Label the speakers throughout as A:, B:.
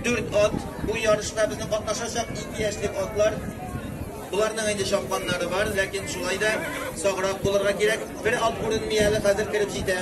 A: Дүрт ат, бу ярышта безнең катнашачак ике яшьлек атлар. Боларның инде чапканнары бар, ләкин шулай да саграк булырга кирәк. Бер ат күренми әле, хәзер кереп җитә.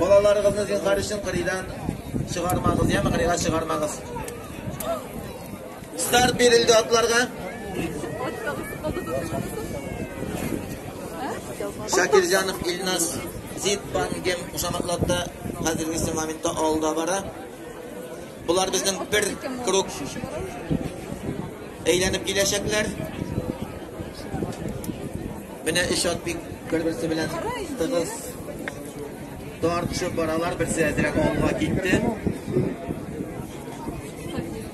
A: Балаларыгызны зинхар өчен кырыйдан чыгармагыз, яме кырыйга чыгармагыз. Старт бирелде атларга. Шакирҗанов Илназ Зиппангем кушаматлатта хәзергесе моментта алда бара. Булар безнең бер круг әйләнеп киләчәкләр. Менә эш ат бик бер-берсе белән тыгыз тартышып баралар, берсе әзрәк алга китте.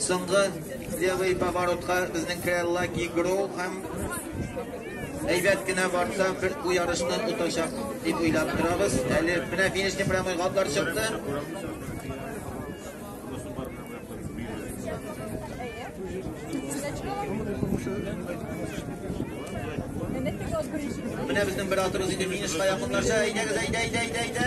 A: Соңгы левый поворотка безнең Крелла Гигро һәм әйбәт кенә барса, бер бу ярышны тотачак дип уйлап торабыз. Әле менә финишный прямой гатлар чыкты. Менә безнең бер атыбыз инде финишка якынлаша. Әйдәгез, әйдә, әйдә, әйдә, әйдә.